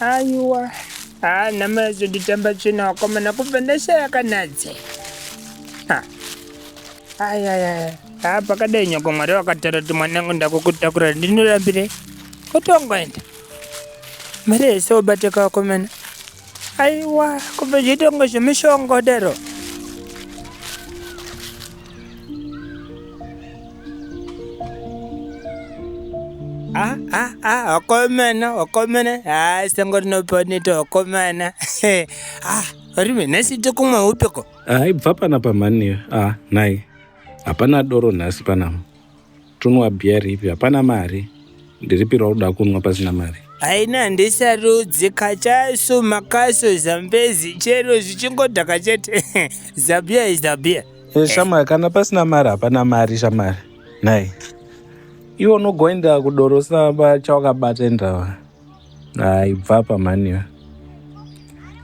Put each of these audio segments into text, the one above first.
aiwa haa nhama yazonditamba tsvina wakomana kubva ndashaya kanadze ayaya haa pakadai nyoko mwari vakatara kuti mwanangu ndakukutakura ndinorambire kutongoenda mari yese obateka wakomana aiwa kubva zvitongo zvemushongodero Ah, ah, ah, wakomana wakomana ah, sango rinoponeta wakomana ah, rime nhasi tokumwa upiko aibva pana pamhani ah, nhai hapana doro nhasi panapa Tonwa beer ripi? Hapana mari. Ndiripire wakuda kunwa pasina mari. Haina handisarudzi kachasu makasu zambezi chero zvichingodhaka chete zabia is zabia. Eh, shamwari kana pasina mari hapana mari shamwari nhai iwe unogoenda kudorosa chawakabata endawa aibva apa mhani iwe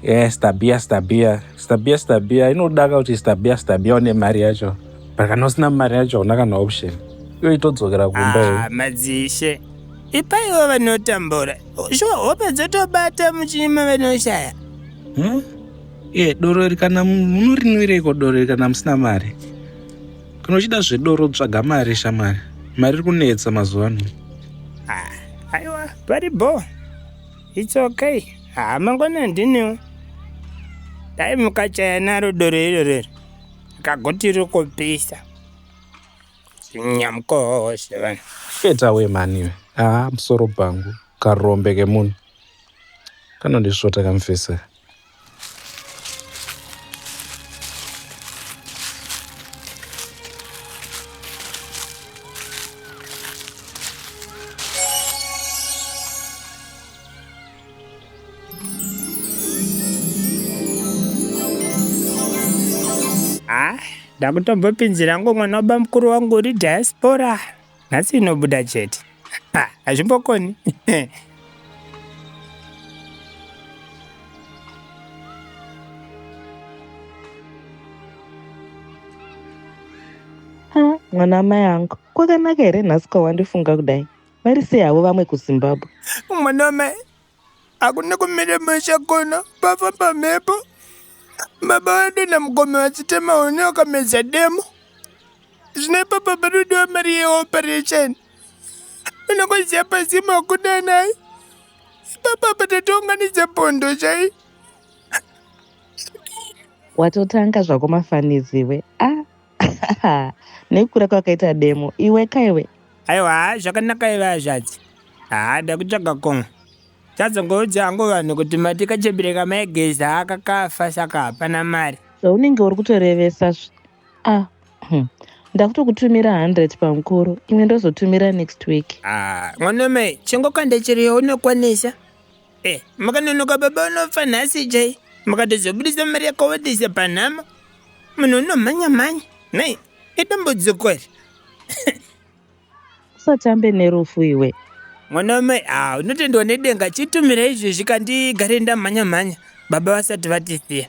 e stabia stabia stabia stabia inodaka kuti stabia stabia une mari yacho but kana usina mari yacho hauna kana option iyo itodzokera kumba iyo Ah, madzishe ipaiwo vanotambura shuwa hope dzotobata muchima vanoshaya Hmm? e doro iri kana munorinwireiko doro iri kana musina mari Kana uchida zvedoro tsvaga mari shamwari. Mari iri kunetsa mazuva ano. Ah, aiwa pari bho. It's okay. Ah, mangwana ndiniwo. Dai mukachaya naro doro iro rero. Kagoti riri kupisa. Nyamkoshe vanhu. Get away mani iwe. Ah, musoro bhangu. Karombe kemunhu. Kanondisvota kamfesa. ndakutobva pinzira ngo mwana wabamukuru wangu uri diaspora nhasi inobuda chete hazvimbokoni mwana amai angu kwakanaka here nhasi kwawandifunga kudai vari sei havo vamwe kuzimbabwe mwana wamai Hakuna kumira musha kuno pafamba mhepo. Baba wedu namukoma vachitema huni wakamedza demo. Zvine papa parudiwa mari yeoperation. Unokuziya pazima wakuda naye. Papa patatounganidza pondo chai. Watotanga zvako mafaniziwe. Ah, nekukura kwakaita demo iwe kaiwe aiwa haa zvakanaka iva hazvadzi haa dakutsvaga komwe tazongoudza hangu vanhu kuti mati kachembere kamaigeza haa kakafa saka hapana mari zvaunenge uri kutorevesa zve a ah, hmm. ndakutokutumira 100 pamukuru imwe ndozotumira next week haa ah, mwanome chingokande chiriyo unokwanisa Eh, makanonoka baba unofa nhasi chai. Makatozobudisa mari yakawandisa panhama. Munhu unomhanya mhanya. Nei, idambudziko iri. usatambe nerufu iwe Mwana wamai, ah, unotendwa nedenga chitumira izvezvi kandigare ndamhanya mhanya. Baba vasati vatisiya.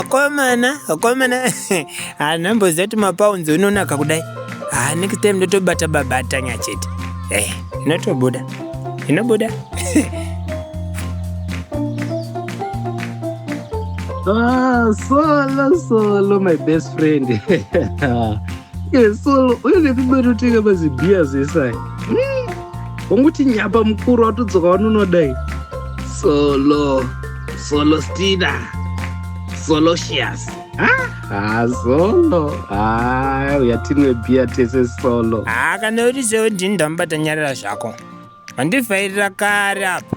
Akomana, mm, mm, akomana, mm, hanamboziva kuti mapaunzi unonaka kudai. Ah, next time ndotobata baba atanya chete. Eh, inotobuda. Inobuda. Ah, solo, solo, my best friend. yesolo uye nekumaroteka mazibhiya zesai wanguti nyapa mukuru watodzoka wanunodai solo solo stina solosius ha solo ha uya tinwe bhiya tese solo ha kana uri sewo ndini ndamubata nyarira zvako mandivhairira kare apa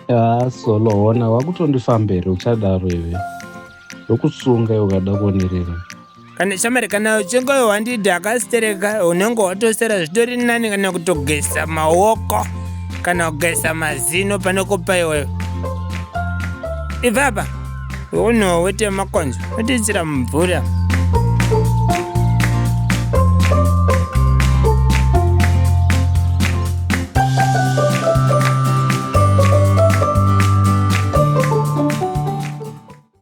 ha solo hona wakutondifambere uchadaro ive ndokusunga iwe ukada kuonerera kana shamari kana uchinge wandida akastereka unenge watosera zvitori nani kana kutogeza maoko kana kugeza mazino pane kupa iwewe ivapa unowo wete makonzo otiisira mumvura